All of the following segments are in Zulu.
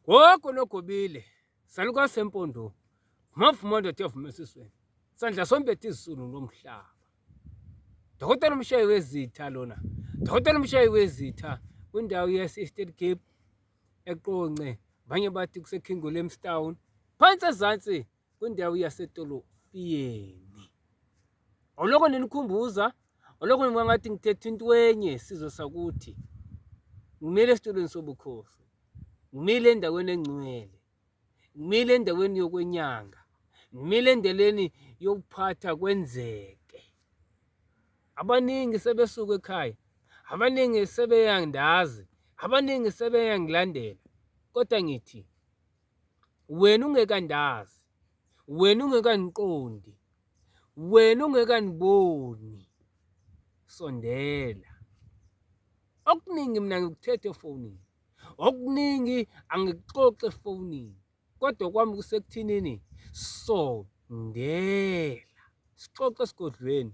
Gogo nogobile saluka sempondweni mavuma ndoda yavuma esisweni sandla sombethe izulu lomhlaba dokotela umshayi wezitha lona dokotela umshayi wezitha kwindawo yase-eastern cape eqonce abanye bathi kusekhingolemstown phansi ezansi kwindawo yasetolofiyeni oloko ninikhumbuza oloko ningangathi ngithetha into enye sizwe sakuthi ngimile esitulweni sobukhosi ngimile endaweni engcwele ngimile endaweni yokwenyanga ngimile endeleni yokuphatha kwenzeke abaningi sebesuka ekhaya abaningi sebeyandazi abaningi sebeyangilandela kodwa ngithi wena ungekandazi wena ungekandiqondi wena ungekaniboni sondela okuningi mina ngikuthethe efonini okuningi angikuxoxe efonini kodwa kwami kusekuthinini sondela sixoxe esigodlweni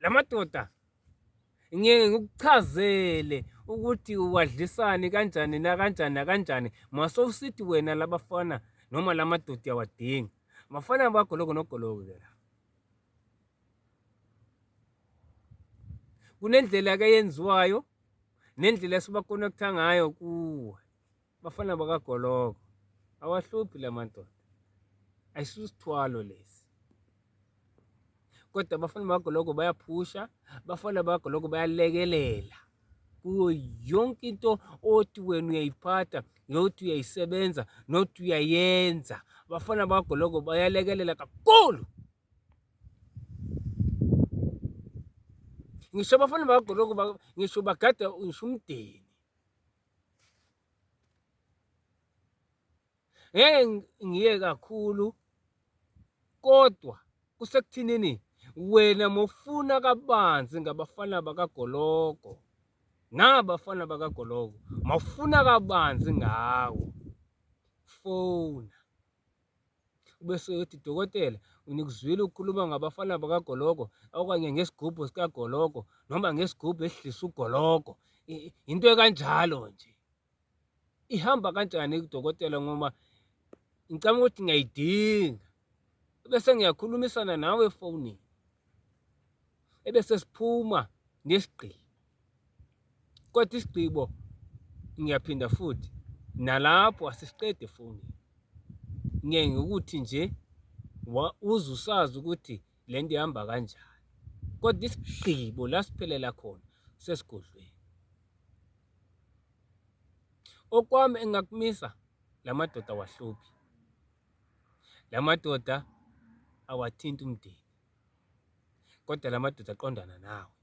lamadoda ngeke ngikuchazele ukuthi uwadlisani kanjani nakanjani nakanjani masowusithi wena labafana noma lamadoda uyawadinga mafana abagoloko nogoloko ke la kunendlela ke yenziwayo nendlela esibakonekta ngayo kuwe Bafana bakagologo awahluphi la madoda ayisisithwalo lesi kodwa abafana bakagologo bayaphusha abafana bakagologo bayalekelela kuyo yonke into othi wena uyayiphatha nothi uyayisebenza nothi uyayenza abafana bakagologo bayalekelela kakhulu ngisho abafana bakagologo ngisho bagada ngisho umdeni ngeke ngiye kakhulu kodwa kusekuthinini wena mofuna kabanzi ngabafana bakagologo nabafana bakagologo mawufuna kabanzi ngawo fona Ubese ethi, Dokotela, nginikuzwile ukukhuluma ngabafana bakagologo okanye ngesigubhu sikagologo noma ngesigubhu esidlisa ugologo. Into ekanjalo nje. Ihamba kanjani kudokotela ngoba ngicabanga ukuthi ngiyayidinga. Bese ngiyakhulumisana nawe efonini. Ebese siphuma nesigqibo. Kodwa isigqibo ngiyaphinda futhi nalapho asisiqedi efowunini. Ngeke ngokuthi nje uze usazi ukuthi le nto ihamba kanjani, kodwa isigqibo la siphelela khona sesigodlweni. Okwami engingakumisa la madoda awahluphi, la madoda awathinti umndeni, kodwa la madoda aqondana nawe.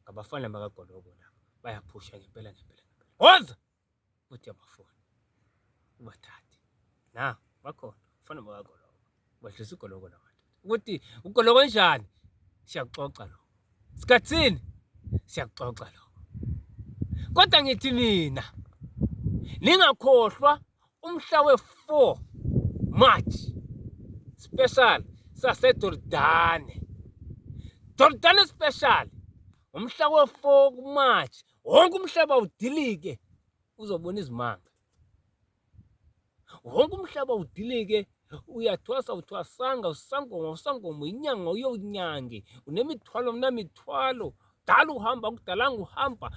Ngabafana bakaGolobo laba bayaphusha ngempela ngempela ngempela. Woza! Uthi abafuni. Ubathathe. Na, bakhona. Ufana bakaGolobo. Ubadlisa uGolobo la madoda. Ukuthi uGolobo njani? Siyakuxoxa lo. Sikhathini? Siyakuxoxa lo. Kodwa ngithi nina ningakhohlwa Umhla we-4 March special saseJordane. Jordane special umhla we-4 kuMarch wonke umhlaba udilike uzobona izimanga. Wonke umhlaba udilike uyathwasa uthwasanga usangoma usangoma inyanga uyonyange unemithwalo mnamithwalo dala uhamba kudalanga uhamba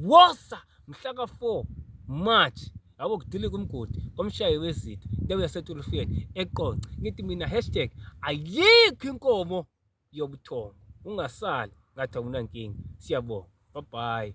wosa mhla ka-four march yabo kudilika umgodi komshayi wezitha indawo yasetulufeni eqonce ngithi mina hashtag ayikho inkomo yobuthongo ungasali ngathi awunankinga siyabonga babhayi